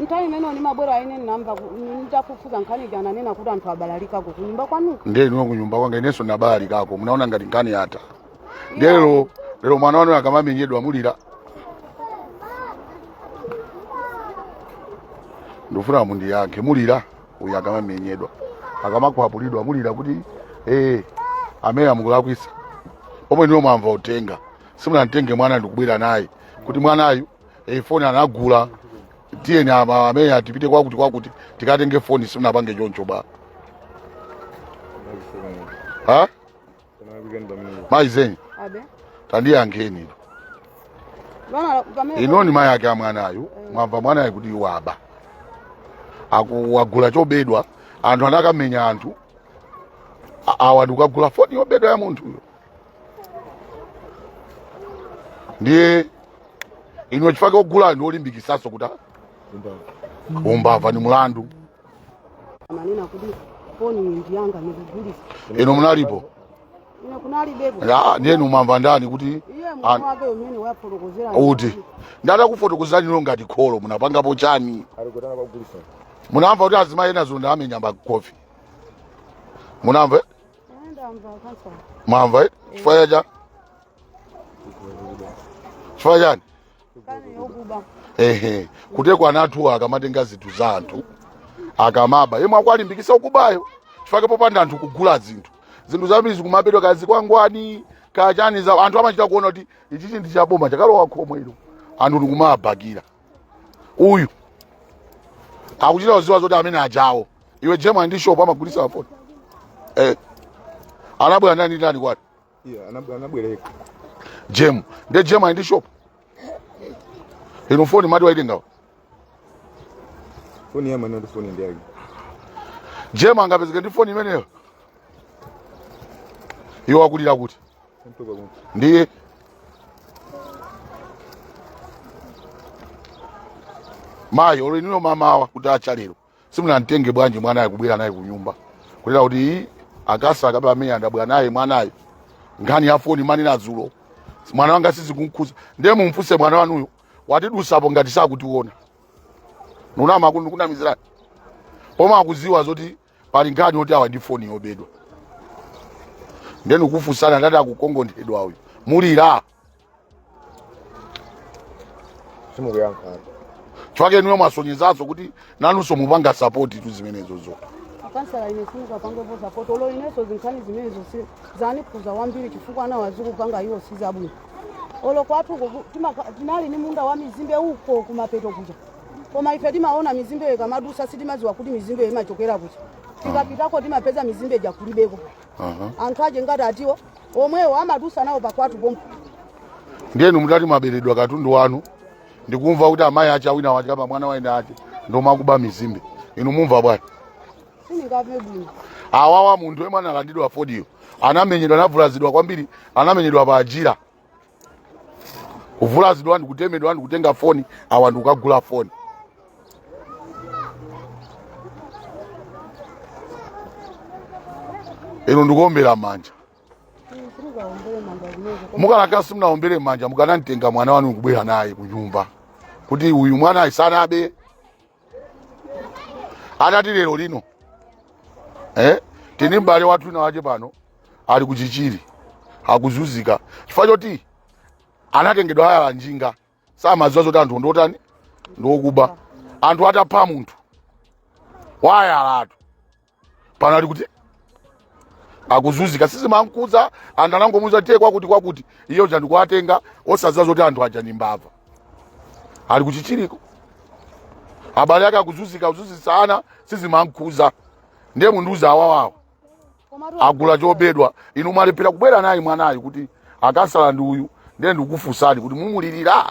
nthawi imeneyo ndimabwera ine ndinamva ku- nditafufuza nkhani ija ananena kuti anthu abalalika ku kunyumba kwanuko ndiye inuyo kunyumba kwanga inenso munabalalikako munaona ngati nkhani yatha ndiye lero lero mwana wanu akamamenyedwa mulira ndifuna mundiyankhe mulira uyu akamamenyedwa akamakwapulidwa mulira kuti ee amene a meya mukulakwitsa pomwe inuyo mwamva utenga simunamtenge mwana ndikubwera naye kuti mwanayu foni anagula tiyeni ama- a meya tipite kwakuti kwakuti tikatenge foni simunapange choncho bwa ha? mayi ndikunena abe tandiyankheni Vana- pamene- inu ndi mayi ake a mwanayu mwamva mwanayu kuti waba, Aku- wagula chobedwa anthu anakamenya anthu, A- awa ndikukagula foni yobedwa ya munthuyo ndiye inu chifukwa ogula ndi olimbikitsanso kuti umbava ndi mulandu amanena kuti foni iyi ndi yanga ndikugulitsa inu munalipo ine kunalibepo Ya, ndiye inu mumamva ndani kuti iye An- mwana wake umene wafotokozera kuti ndatakufotokozerani inuyo ngati kholo munapangapo chani alikotana kwagulisa munamva kuti azimayi ena dzulo ndawamenya mbama khofi munamva mwamva eh? chifukwa cha cha chifukwa chani ehe kuti kwa anthuwa akamatenga zinthu za anthu akamaba yemwe akuwalimbikitsa kubayo chifukwa popanda anthu kugula zinthu zinthu zambiri zikumabedwa kaya zikwangwani kaya chani za anthu amachita kuona kuti ichichi ndi chaboma chakalowa khomo ilo anthu ndikumabakira uyu akuchita kudziwa zoti amene ajawo iwe Jemu ali ndi shop amagulitsa mafoni eh anabwera ndani ndani kwati Yeah, anab- anabwereka Jemu nde Jemu ali ndi shop inu foni mati waitenga foni yamwe noti foni ndi yake Jemu angapezeke ndi foni imeneyo iwo akulira kuti ndiye mayi olo inuyo mamawa kutacha lero simunamtenge bwanji mwanayo kubwera naye kunyumba kunena kuti "Ii, a khansala kapena a meya ndabwera naye mwanayo nkhani ya foni mumanena dzulo mwana wanga sizikumkhuza ndiye mumfunse mwana wanuyo wathidusapo ngati sakutiona ndikunama kukunamizirani pomwe akudziwa zoti pali nkhani yoti awa ndi foni yobedwa ndeni ukufunsana ndati akukongonthedwa uyu mulira simukuyankha chifukwa chake ndiye mwasonyezanso kuti nanunso mupanga sapoti tu zimenezozo akansala ine simukapangepo sapoti olo ineso zinkhani zimenezo si- zanikhuza wambiri chifukwa anawa zikupanga iwo sizabwino olo kwathu uko ku- timaka- tinali ni munda wa mizimbe uko kumapeto kuja koma ife timaona mizimbeyo ikamadusa sitimadziwa kuti mizimbeyo imachokera kuti tikapitako timapeza mizimbe ija kulibeko Aha. anthu ache ngati atiwo omwewo amadusa nawo pakwatu pompo ndiye inu mutati mwaberedwa katundu wanu ndikumva kuti amayi ache a wina wache apa mwana wa wina wache ndomakuba mizimbe inu mumva bwanji sindingamve bwino awawa munthu yemwe analandidwa foniyo anamenyedwa anavulazidwa kwambiri anamenyedwa panjira kuvulazidwa ndikutemedwa ndikutenga foni awa ndikukagula foni inu ndikuombera manja mukanakhala simunaombere manja mukanamtenga mwana wanu kubwera naye kunyumba kuti uyu mwana uyu sanabe atati lero lino eh? tili ndi m'bale wathu wina wache pano ali ku Chichiri akuzunzika chifukwa choti anatengedwa hayala njinga samaziwa zoti anthuwo ndiotani ndiokuba anthu atapha munthu wahayalatu pano ali kuti akuzunzika sizimamkudza anthu anangomuuza tiye kwakuti kwakuti iye uja ndikuwatenga osadziwa zoti anthu aja ndi mbava ali ku Chichiriko abale ake akuzunzika kuzunzitsa ana sizimamkudza ndiye mundiuze awawawa komatu agula chobedwa inu mwalephera kubwera naye mwanayu kuti anasala ndi uyu ndiye ndikufunsani kuti mumulirira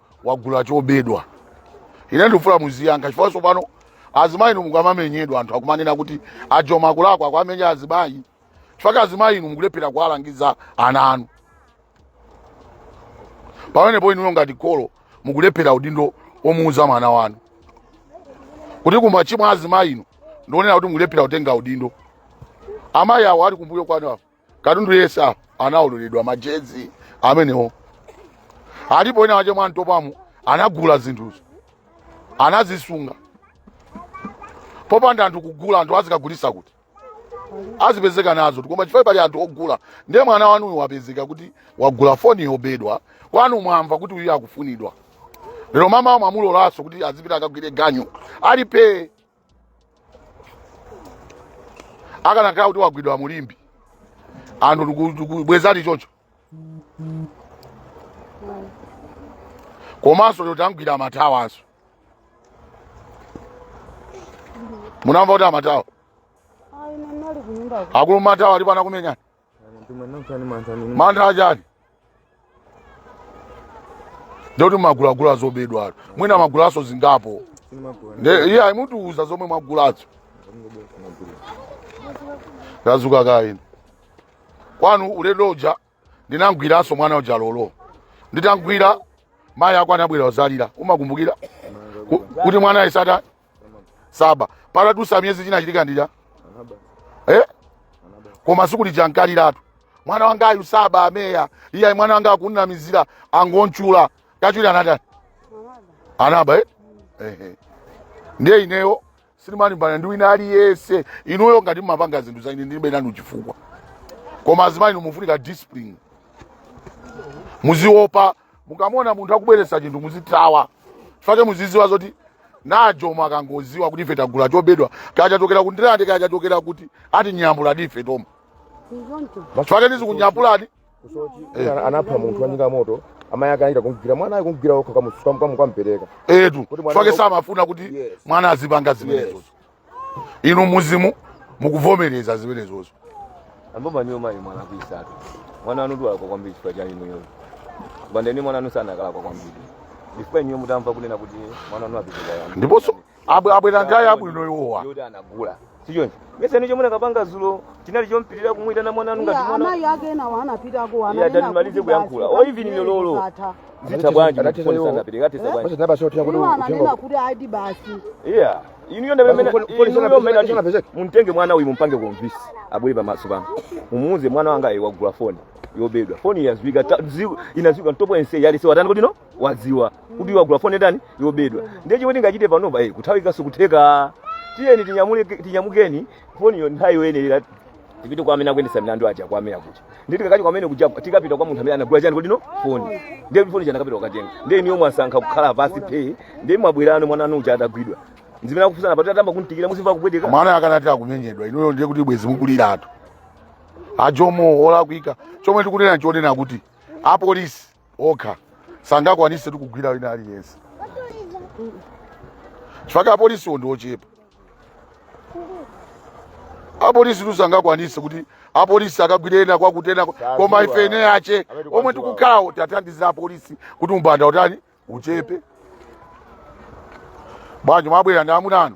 wagula chobedwa ine ndikufuna muziyankha chifukwa tsopano azimayi inu mukamamenyedwa anthu akumanena kuti a Joma akulakwa akuwamenya azimayi chifukwa azimayi inu mukulephera kuwalangiza ana anu pamenepo inuyo ngati kholo mukulephera udindo omuuza mwana wanu kuti kuba nchimwa azimayi inu ndikunena kuti mukulephera kutenga udindo amayi awo ali kumbuyo kwanu apo katundu yese apo anaoledwa majezi amenewo alipo wina wache mwa Ntopwamo anagula zinthuzo anazisunga popanda anthu kugula anthu azikagulisa kuti azipezeka nazo koma chifukwa pali anthu ogula ndiye mwana wanuyu wapezeka kuti wagula foni yobedwa kwanu mwamva kuti uyu akufunidwa lero mamawa mwamulolanso kuti azipita akagwire ganyu ali pee akanakhala kuti wagwidwa mu Limbe anthu tiku- tikubwezani choncho komanso lero tamgwira a Mathawanso munamva kuti a Mathawa ine ndinali kunyumba akulu Mathawa alipo anakumenyani mantha achani ndikuti mumagulagula zobedwatu mwina mwagulanso zingapo Ndiye ayi mutiuza zomwe mwagulazo tadzukakoni kwanu ulendo uja ndinamgwiranso mwana uja lero nditamgwira mayi ako anabwera kudzalira umakumbukira Ku- kuti mwana isata saba patadutsa miyezi chinachitika nchija eh? koma tsiku lija munkaliratu mwana wangayu saba ameya iye mwana wanga akumunamizira angomutchula kachuli anatani anaba eh? eh, eh. ndiye ineyo sindimalimbana ndi wina aliyense inuyo ngati mumapanga zinthu za ine ndilibe nanu chifukwa koma azimayi inu mufunika discipline muziopa mukamuona munthu akubweretsa chinthu muzithawa chifukwa chake muzidziwa zoti anajomwa akangodziwa kuti ife tagula chobedwa kaya chachokera ku ndirande kaya chachokera kuti ati nyambuladi ife toma chifukwa chake ndidzikunyambulani anapha munthu wanyika moto amayi ake anachita kumgwira mwana ayi kumgwira okha kukampereka eetu Kuti mwana chifukwa chake wako- samafuna kuti Yes. mwana azipanga zimenezozo inu mzimu mukuvomereza zimenezozo amboma niyo mayi mwana kuisatu mwana wanu ndi wolakwa kwambiri chifukwa cha inuyo bandeni mwana wanu sakanalakwa kwambiri chifukwa inuyo mutamva kunena kuti mwana wanu apitikaani ndiponso abwe- abwera ngale abwino iwowa yoti anagula sichoncho mesa nicho mukanapanga dzulo chinali chompitira kumuyitana mwana wanu ngati Ya, mwana amayi ake enawo anapitako Iye ananena tandimalize kuti kuyankhula. basi, O, even basi, ine lolo. zatha. zitha bwanji Anatero- mukufuna sanapitira katisa bwanji Basi nabasotera kuti iwo ananena uthenga kuti aidi basi iya inuyo Basi ndamene poli- polisi inuyo anapezeka- mene ati anapezeka? mumtenge mwana uyu mumpange konvince abwere pamaso pano mumuuze mwana wanga iwe wagula foni yobedwa foni yadziwika ta- zi- inadziwika m'town monse yali se watani kodi inu wadziwa kuti wagula foni yatani yobedwa ndiye chomwe tingachite panopa eh, kuthawika sikutheka tiyeni tinyamule- tinyamukeni foniyo nthawi yoyenerera tipite kwa amene akuyendetsa milandu aja kwa amene akuti nditi katikati kwamene kuja tikapita kwa munthu amene anagula chani kodi inu foni ndiye foni chana kapita ukatenga ndiye inuyo mwasankha kukhala pansi phee ndiye mwabwerano mwana wanu uja atagwidwa zimene akufunsana apa atayamba kumutikita muzimva kupweteka mwana akanati akumenyedwa inuyo ndiye kuti bwezi mukuliratu ajomo olakwika chomwe tikunena nchonena kuti apolisi okha sangakwanise kugwira wina aliyense chifukwa apolisiwo ndi ochepa apolisitu sangakwanise kuti apolisi akagwire ena kwakuti enawa koma ife eni ake omwe tikukhalawo tiwathandize apolisi kuti umbanda utani uchepe bwanji mwabwera ndi amuna anu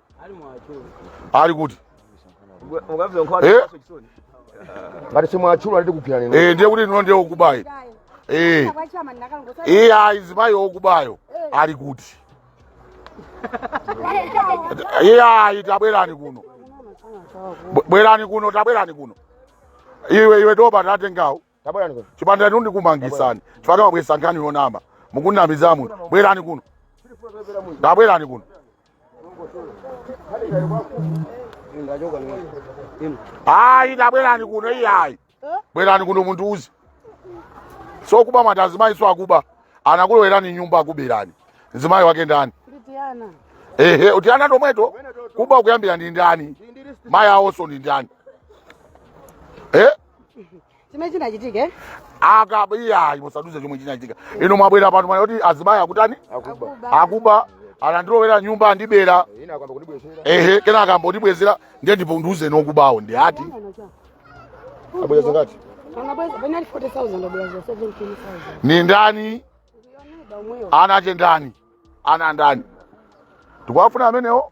ali kuti Eh? ngati simwatchula nditi kugwirani inu. Eh, ndiye kuti inu ndiye okubayo Eh. iyayi azimayi okubawo ali kuti iyayi tabwerani kuno Bwe- bwerani kuno tabwerani kuno iwe iwe toba tatengawo tabwerani kuno chipanda inu ndikumangisani chifukwa mwabwesa nkhani yonama mukunamiza munthu bwerani kuno tabwerani kuno ayi tabwerani kuno iyayi bwerani kuno mundiuze zokuba mwati azimayi so akuba anakulowerani m'nyumba akuberani mzimayi wake ndani Nditiana. ehe tiana tomweto kuba ukuyambira ndi ndani mayi awoso ndi ndani eh? chimene chinachitike akaba iyayi musaduze chomwe chinachitika inu mwabwera pano mwanena kuti azimayi akutani akuba akuba anandilowera m'nyumba andibera kenaka ayamba kundibwezera ehe kenaka ayamba kundibwezera ndiye mundiuze okubawo ndi ati abweza zingati anabweza inali 40000 abweza 17000 ni ndani ndiyoneba umweyo ana ake ndani ana ndani tikuwafuna amenewo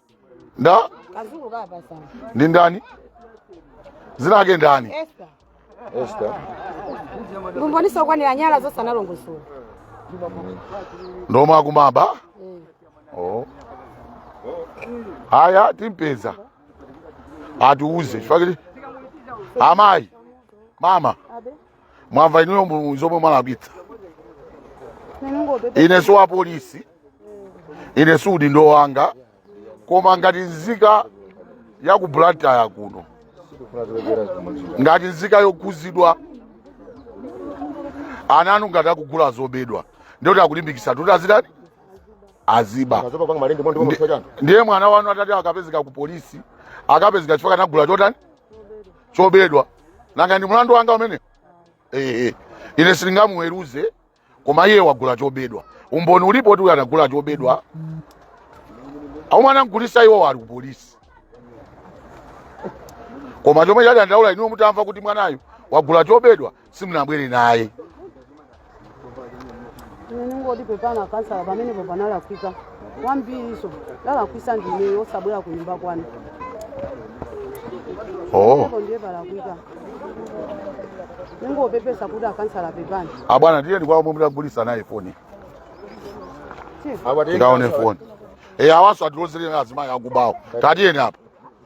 nda kazungu kapa sana ndi ndani zina ake ndani esta Esther lumbonisa ukwanira nyala zonse analongosola ndoma akumaba oh. aya timpeza atiuze chifukwa kuti amayi mama mwamva inuyo mu- zomwe mwalakwitsa ine si wa polisi ine si udindo wanga koma ngati nzika ya ku blantyre kuno ngati nzika yokhuzidwa ana anu ngati akugula zobedwa ndiyoti akulimbikisa kuti azitani aziba Mazoba panga malindi mwandi mwamutwa chanu. ndiye mwana wanu atati akapezeka ku polisi akapezeka chifukwa anagula chotani chobedwa nanga ndi mlandu wanga umenewo ehe ine sindingamuweruze koma iye wagula chobedwa umboni ulipo oti uyu anagula chobedwa omwe anamgulisa iwo ali kupolisi koma chomwe chawadandaula inuyo mutamva kuti mwanayu wagula chobedwa simunabwere naye Ine ndingoti pepani akansala pamenepo panalakwika. kwambiriso ndalakwisa ndineyo osabwera kunyumba kwanu oh ko ndiye palakwika ndingopepesa kuti akansala pepani abwana tiyeni kwa omwe munagulisana naye foni Tiye. tikaone foni e awaso atilozere azimayi akubawo tatiyeni apa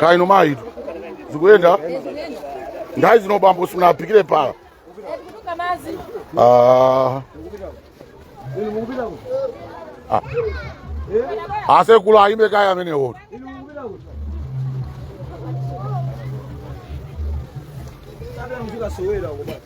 kaya inu mayitu zikuyenda nthawi ino bambo simunaphikire pala Ah. Ah. asekulu ayimbe kaya amenewo Kabla mtu kasowera huko bwana.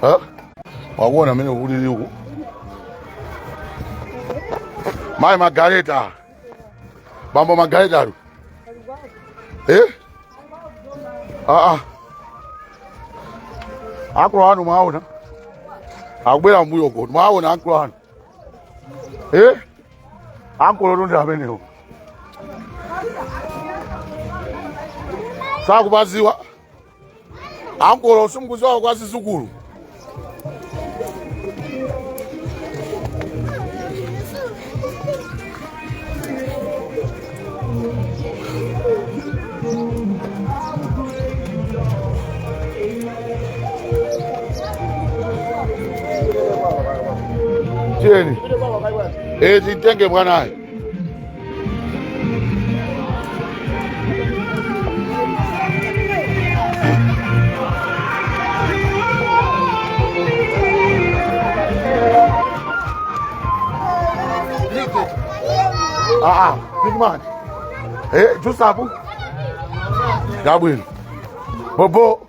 Ha? Wakuona mene ulili uku. Mai magareta. bambo Margareta ali eh? ah, ah. ankolo anu mwaona akubwera mbuyo ko mwaona ankolo anu eh? ankolo tonde amenewo sakupaziwa ankolo simkuziwawo kwa zizukulu tiyeni titenge mwanayo Ah, ah, big man. Eh, Jusabu. Gabriel. Bobo.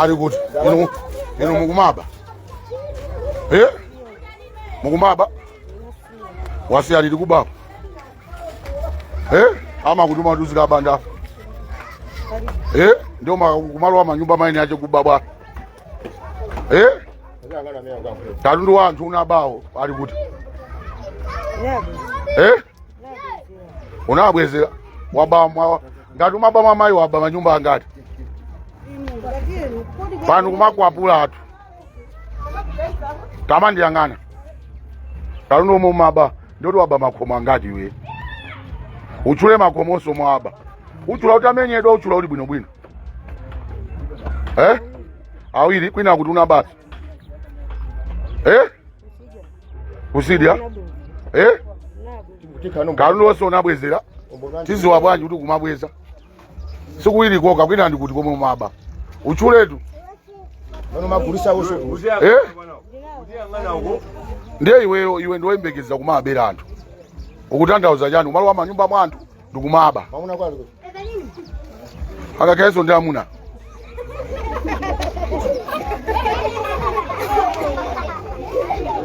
ali kuti inu inu mukumaba e mukumaba wasiya liti kubaba e amakutuma kuti uzikaba ndi iwo ma- kumalowa manyumba eni ake kubabwa eh? katundu wa anthu unabayo ali kuti eh? unawabwezera waba mwangati umaba mwa mayi waba manyumba angati pano kumakwapula anthu tamandiyang'ana katundu omwe umaba ndikuti waba makhomo angati iwe utchule makhomonso mwaba utchula utamenyedwa utchula uli bwinobwino eh? awiri kwina kuti una basi eh? kusiya eh? katundu wonse unabwezera tiziwa bwanji kuti kumabweza si kuwiri kokha kwina ndi kuti komwe maba utchuletu eh? ndiye iweyo iwe ndiwe woyembekezera kumabera anthu ukutanthauza chani umalowa manyumba mwa anthu ndikumaba Mamuna wako ali kuti. angakhalenso ndi amuna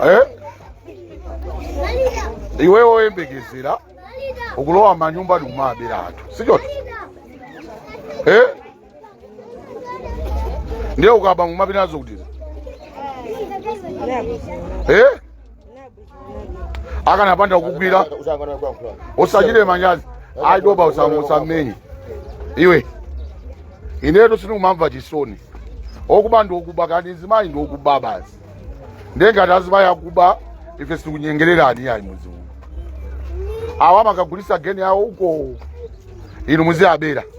Eh? iwe woyembekezera ukulowa manyumba ndikumabera anthu si choti Eh? ndiye ukaba ngumapita nazo kuti eh? ukanapanda kukugwira usachire manyazi aitoba usammenye iwe inetu sinikumamva chisoni okuba ndiokuba kanzimayi ndiokuba basi ndengati azimayi akuba ife sitikunyengererani yayi muziona awa makagulisa geni yawo uko inu muziyabera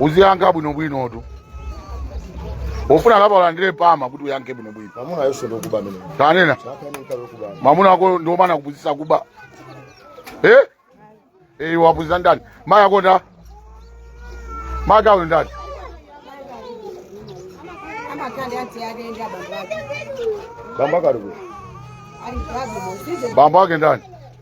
uziyankha bwinobwinotu ufuna kapa ulandire pama kuti uyankhe bwinobwino Mamuna yesu ndokuba amene. tanena Chapa ine nkabe kuba. mwamuna wako ndimana kupuzisa kuba eh? Eh, wapuzisa ndani maya konda maka uyu ndani amakanda yanti yalenda abantu ake Bamba kali kuba. ali kulabu muzije bambo wake ndani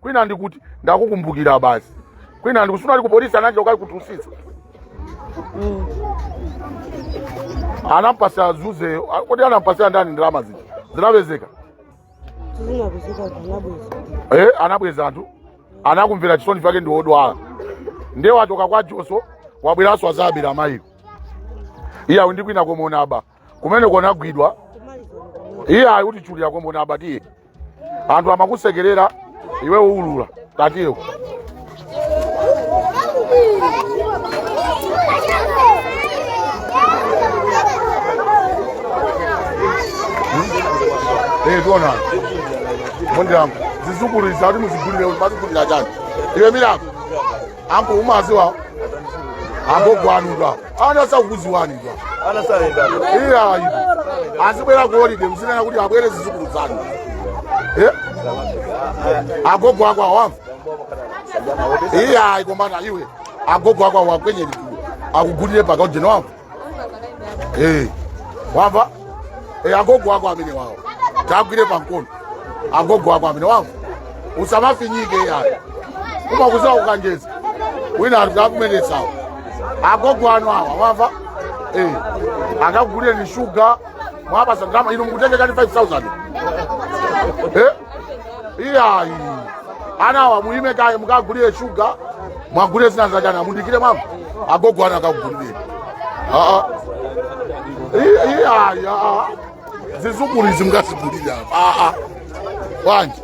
kwina ndikuti ndakukumbukira basi kwina ndikusuna ali kupolisi nanje ukali kutusisa mm. anampasa zuze kodi anampasa ndani ndalama zija zinapezeka eh, anabweza anthu anakumvera chisoni bake ndi wodwala ndiye watoka kwa joso wabweraso azabera mayiro iyawo ndi kwina komona aba kumeneko anagwidwa iyayi kuti chuli yako mbona abatiye anthu amakusekerera iwe uwulula tatiyo Eh, tiona mundi yangu zizukulu izi ati muzigulire mazigulira chani iwe milango anko umaziwa agogo anu ndo apo ana sakuziwani ndo apo ana saenda iyayi azibwera ku holide mzinena kuti abwere zizukulu zanu Eh? agogo ako awamva iyayi kombana iwe agogo ako awakwenyeni akugulire pakaujeni wamva Eh, wamva Eh, agogo ako amene wawo tagwire pankono agogo ako amene wamva usamafinyike yayi umakuziwa kukanjeza wina akakumenetsawo agogo anu awa wamva Eh, akakugulireni shuga mwapasa ndalama inu mukutengekani 5000 Eh? iyayi anawa muyime kaye mukagulire shuga mwagulire zina za ana mundikire mama agogo anu akakugulire aa I- iyayi aa zizukulu izi mungazigulire apa aa bwanji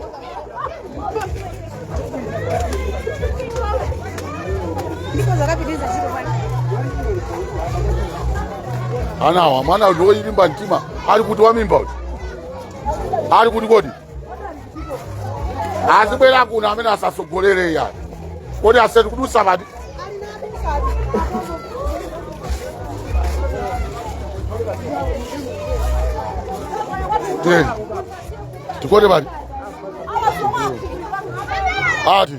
anawa mwana loyilimba mtima ali kuti wamimba uyu ali kuti kodi azibwera kuno amene atsogolere ndani kodi aseti kudusa pati teni tikote pati ati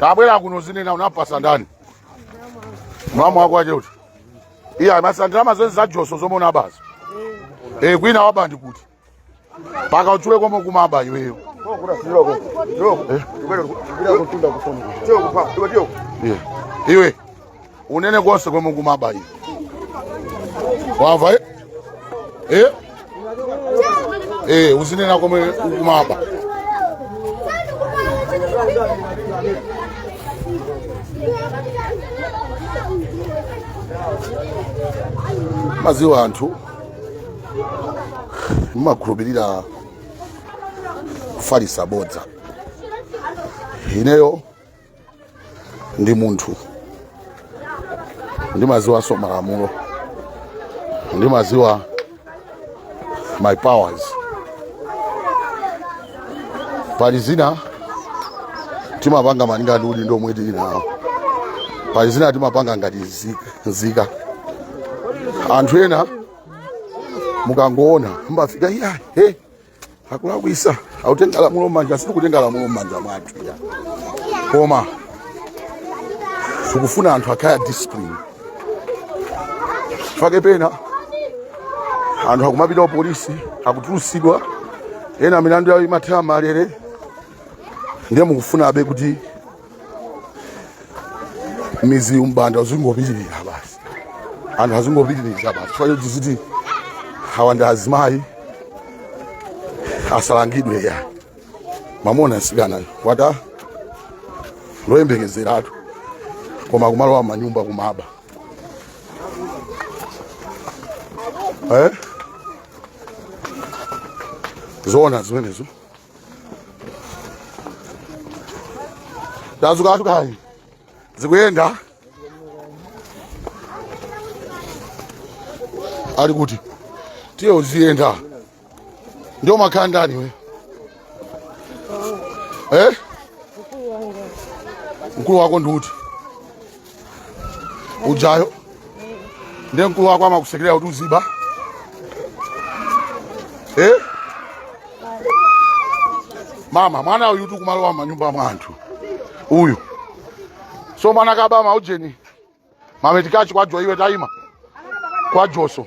kabwera kuno uzinena unampatsa ndani mwamuna wako wache uti iya masandira zonse za Joso zomwe unabazo e kwina waba ndi kuti mpaka uchule komwe ukumaba iweyo Eh, iwe unene konse komwe ukumaba iwe wamva eh? eh? eh, uzinena komwe ukumaba madziwa anthu mumakhulupirira kufalisa bodza ineyo ndi munthu ndimadziwanso malamulo ndimadziwa my powers pali zina timapanga malinga ndi udindo omwe tili nawo pali zina timapanga ngati nzika anthu ena mukangoona mumafika iya he akulakwisa akutenga lamulo mmanja sitikutenga lamulo mmanja mwathu ya koma tikufuna anthu akhale a discipline pake pena anthu akumapita ku polisi akutulutsidwa ena milandu yawo imathera mmalere ndiye mukufunabe kuti mmidzi umbanda uzingopitirira basi anthu azingopitirira basi chifukwa choti muziti awa ndi azimayi asalangidwe ayi mwamuona mtsikanayo ati ndi oyembekezeratu koma kumalowa mmanyumba kumaba eh? zoona zimenezo tadzukatu kaye uziyenda ali kuti tiye uziyenda ndiye umakhala ndi ndani iwe eh? mkulu wako ndi uti ujayo ndiye mkulu wako amakusekelera kuti uziba eh? mama mwana uyu tu kumalowa mmanyumba mwa anthu uyu so mwana kaba ma ujeni mametikachi kwa Jo- iwe taima kwa Joso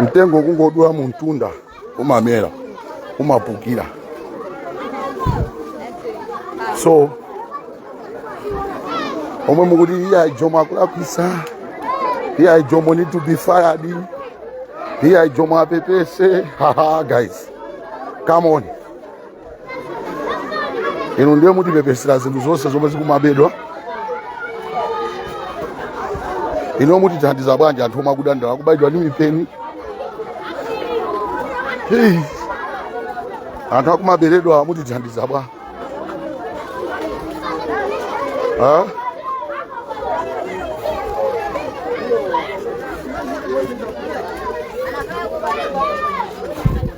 mtengo kungodula m'mtunda umamera umapukira so omwe mukuti iyayi a Jomo akulakwisa iyayi a Jomo need to be fired iyayi a Jomo apepese haha guys come on inu ndiye mutipepesera zinthu zonse zomwe zikumabedwa inu mutithandiza bwanji anthu omwe akudandaula akubayidwa ndi mipeni Hey. anthu akumaberedwa mutithandiza bwa Ha?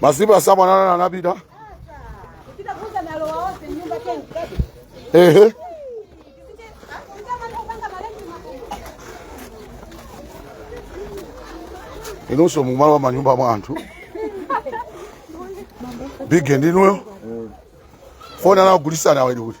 masiku asanu ana anapita ehe inunso mumalowa m'manyumba mwa anthu bige ndinuyo foni anagulisana awedi kuti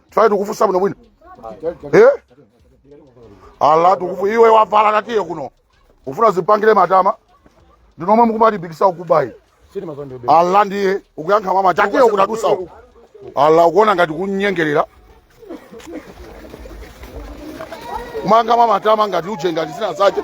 tifuna tikufunsa bwino bwino eh ala tikufu iwe wavala katiye kuno ufuna zipangire matama ndinomwe mukumalimbikisa umbavayi ala ndiye ukuyankha mwamatama tiye ukutadusa uku ala ukuona ngati tikunyengerera kumayankha mwamatama ngati uje ngati zina zache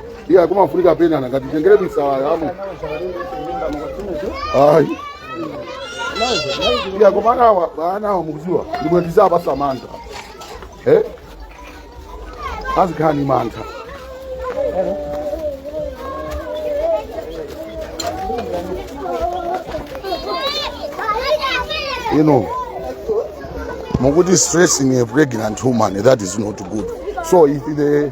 iya kumafunika penana kuwatengera misala yawo ayi iya koma anawa ba anawa mukuziwa ndimwe muziwapasa mantha eh azikhala ni mantha you know mukuti stressing a pregnant woman that is not good so if the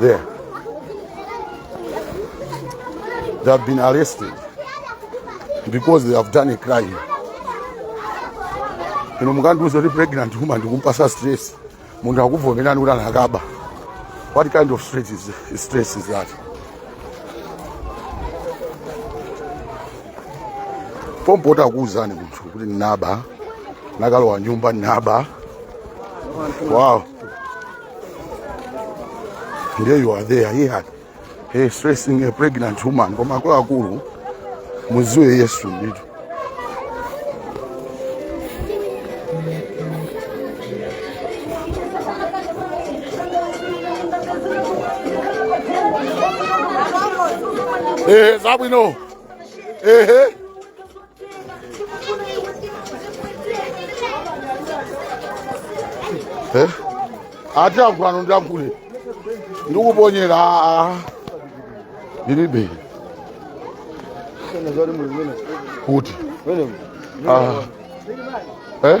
There. They have been arrested because they have done a crime. Inu mukandiuza kuti pregnant woman ndikumpasa stress. Munthu akuvomerani kuti anakaba. What kind of stress is, stress is that? Pompo akuuzani munthu kuti ndinaba. Nakalowa nyumba ndinaba. Wow. And there you are there, he had a stressing a pregnant woman. Koma akuluakulu muziwe Yesu ndithu. Eh, zabwino. Eh, eh. Eh? ati yankhulanso ndiyankhule ndikuponyera aa ndilibe kuti Ah. Eh?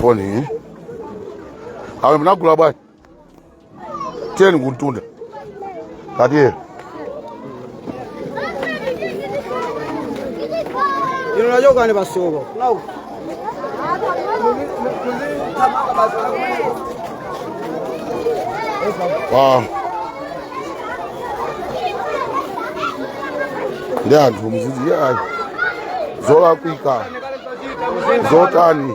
foni eh? awe munagula bwana tiyeni kumtunda katiyeni ino nachokani pa sukulu Ah. ndi anthu muziti ayi zolakwika zotani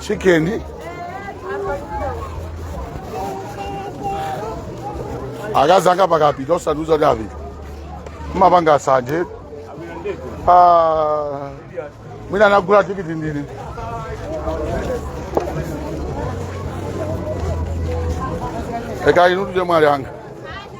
chicken akazi anga pakapita osandiuza kuti apita mumapanga sanje Ah, mwina anagula tikiti ndi ineyo eka inu tuje mwali anga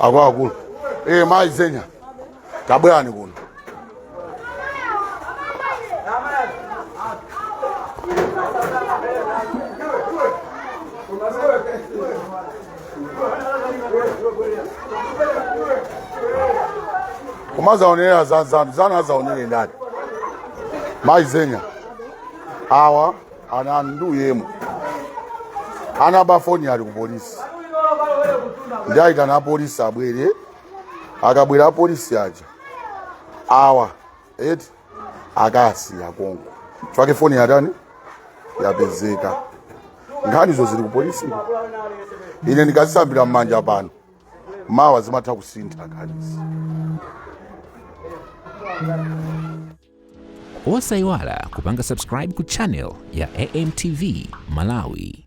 akuluakulu ee mayi zenya tabwerani kuno kumadzaonera za- za- zanu adzaonere ndani mayi zenya awa ana ndi yemwe anaba foni ali ku polisi ndayitana apolisi abwere akabwera apolisi aja awa eti akasiya konko chifukwa foni yathuyi yapezeka nkhanizo zili kupolisi ine ndikazisambira m'manja pano mawa zimatha kusintha nkhanizi osayiwala kupanga subscribe ku channel ya amtv malawi